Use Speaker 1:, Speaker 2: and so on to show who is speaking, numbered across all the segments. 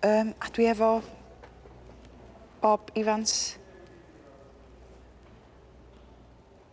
Speaker 1: Um, a dwi efo Bob Evans.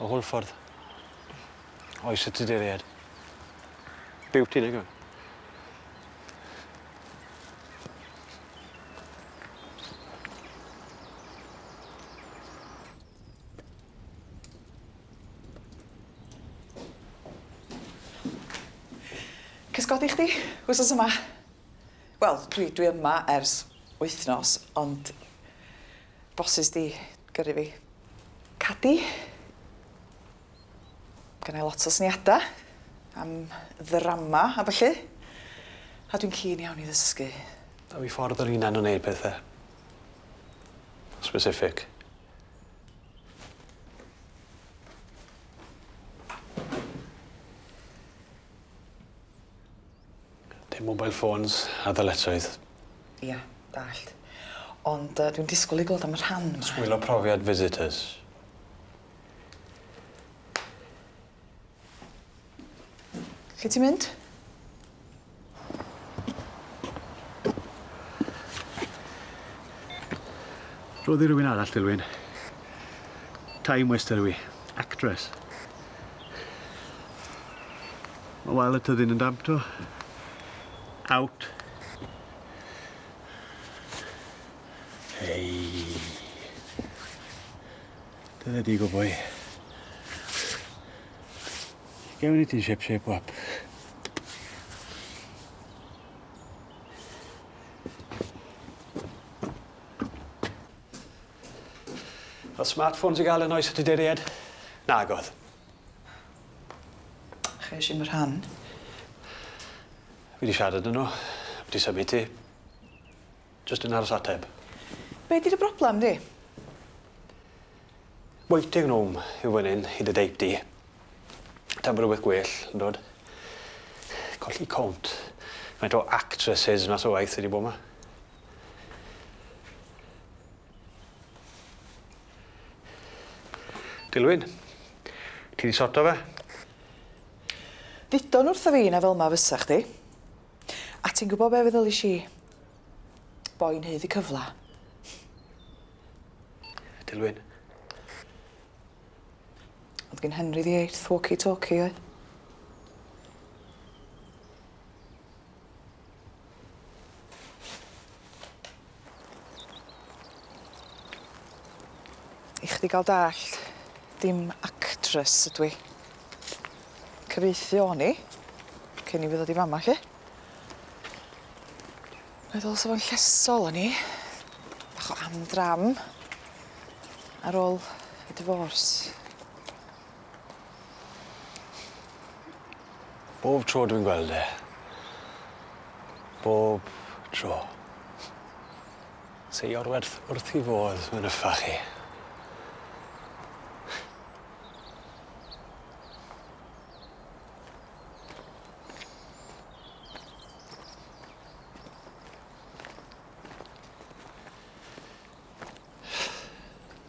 Speaker 1: O holl ffordd. Oes y tuduriaid. Beauty nag yw? Cysgodi chdi wsos yma? Wel, dwi dwi yma ers wythnos ond bosses 'di gyrru fi. Cadi. Gennai lot o syniada am ddrama a ballu. A dwi'n keen iawn i ddysgu. A fi ffordd yr hunan o neud pethe. Specific. Dim mobile phones a ddyletswydd. Ia, dallt. Ond yy dwi'n disgwl i glwad am y rhan 'ma. Sgwylio profiad visitors. Lle ti'n mynd? Rhoddi rhywun arall, Dilwyn. Time waster yw 'i. Actress. Mae wael y tyddyn yn damp to. Out. Hei. Dyna di go boi. Gewn i ti'n shep shep wap. Oedd smartphones i gael yn oes y Tuduriaid? Nagodd. Chi isie fy rhan? Fi 'di siarad â n'w. Fi 'di symud ti. Jyst yn aros ateb. Be' 'di dy broblem di? Waiting room yw fyn 'yn i dy deip di. Taw ma' rwbeth gwell, yndwt? Colli count. Faint o actresses mas o waith sy 'di bo' 'ma? Dilwyn. Ti 'di sorto fe? Ddudo'n wrtho fi na fel'ma fysa chdi. A ti'n gwbo be' feddylish i? Boi'n haeddu cyfla. Dilwyn. O'dd gin Henry the eighth walkie talkie oedd? I chdi gael dallt, dim actress ydw i. Cyfieithu o'n i, cyn i fi ddod i fama, lly. Meddwl sa fo'n llesol o'n i, bach o am-dram, ar ôl y divorce. Bob tro dwi'n gweld e. Bob tro. Sy orwerth wrth 'i fodd mewn yffach chi.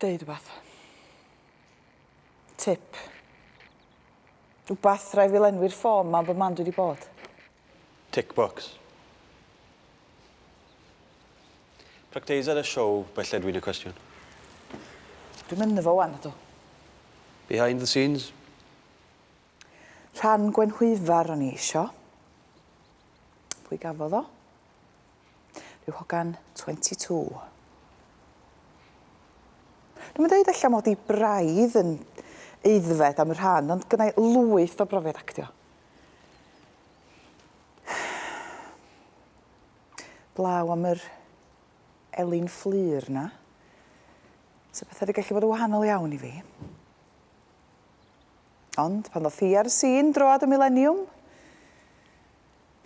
Speaker 1: Deud wbath. Tip. Wbath rai fi lenwi'r ffôn ma am bo man dwi di bod. Tick box. Practise ar y siow belle dwi'n y cwestiwn. Dwi'm ynddo fo wan nadw. Behind the scenes. Rhan Gwenhwyfar o'n i isio. Pwy gafodd o? Rhyw hogan 22. Dwi'n mynd dweud allan mod i braidd yn eiddfed am y rhan, ond gynnau lwyth o brofiad actio. Blaw am yr Elin Fflur na. So beth wedi gallu bod yn wahanol iawn i fi. Ond pan ddoth hi ar y sîn droad y mileniwm,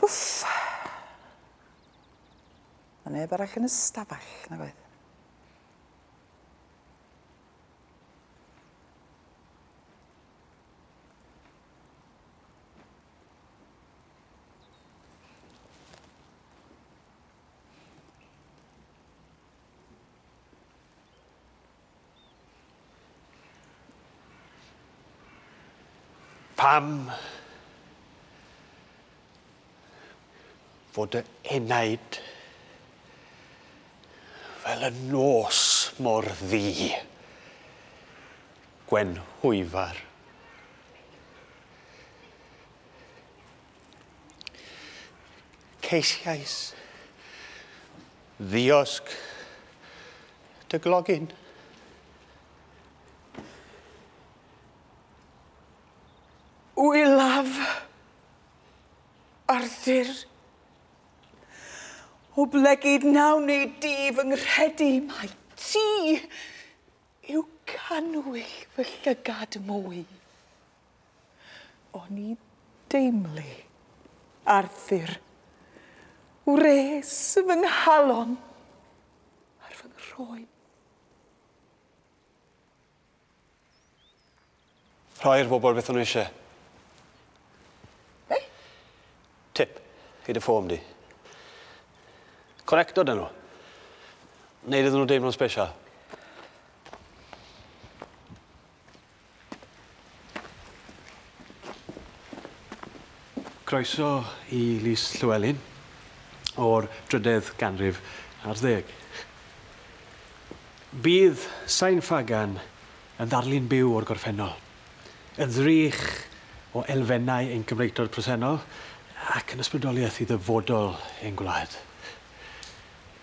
Speaker 1: Wff! Ma' neb arall yn y stafell, nag oedd? Pam fod dy enaid fel y nos mor ddu, Gwen Hwyfar? Ceisiais Ddiosg dy glogyn. Wylaf Arthur. Oblegid nawn ni di fy nghredu mai ti yw canwyll fy llygad mwy. O'n i deimlu Arthur. Wres fy nghalon ar fy nghroen. Rhoi'r bobl beth o'n nhw eisiau. Be? Tip i dy ffôn di. Connecto dyn nhw. Neud iddyn nhw deimlo'n special. Croeso i Lys Llewelyn o'r drydedd ganrif ar ddeg. Bydd Sain Ffagan yn ddarlun byw o'r gorffennol, yn ddrych o elfennau ein Cymreictod presennol ac yn ysbrydoliaeth i ddyfodol ein gwlad.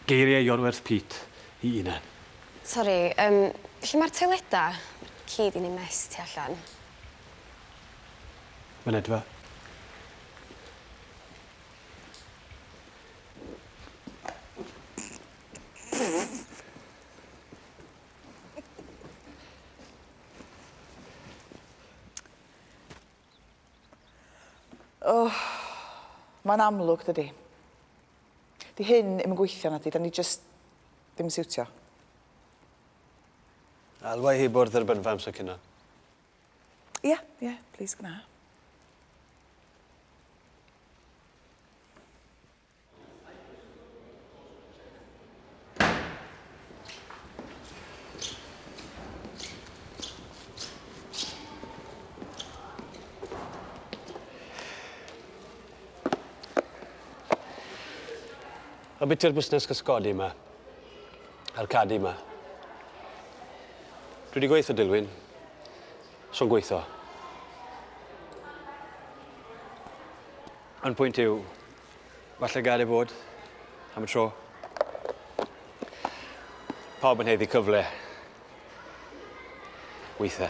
Speaker 1: Geiriau Iorwerth Peat i unan. Sori, yym, lle mae'r toileda? Mae'r ci di neud mess tu allan. Mynedfa. O! Mae'n amlwg, dydi? 'Di hyn ddim yn gweithio nadi? 'Da ni jyst ddim yn siwtio? Alwa i hi bwrdd yr bynfa amser cino. Ia, ia, plis gwna. Ambiti'r busnes cysgodi yma. A'r cadi yma. Dwi wedi gweithio Dilwyn. So'n gweithio. Yn pwynt yw, Falle gael ei fod am y tro. Pawb yn heddi cyfle. Weithe.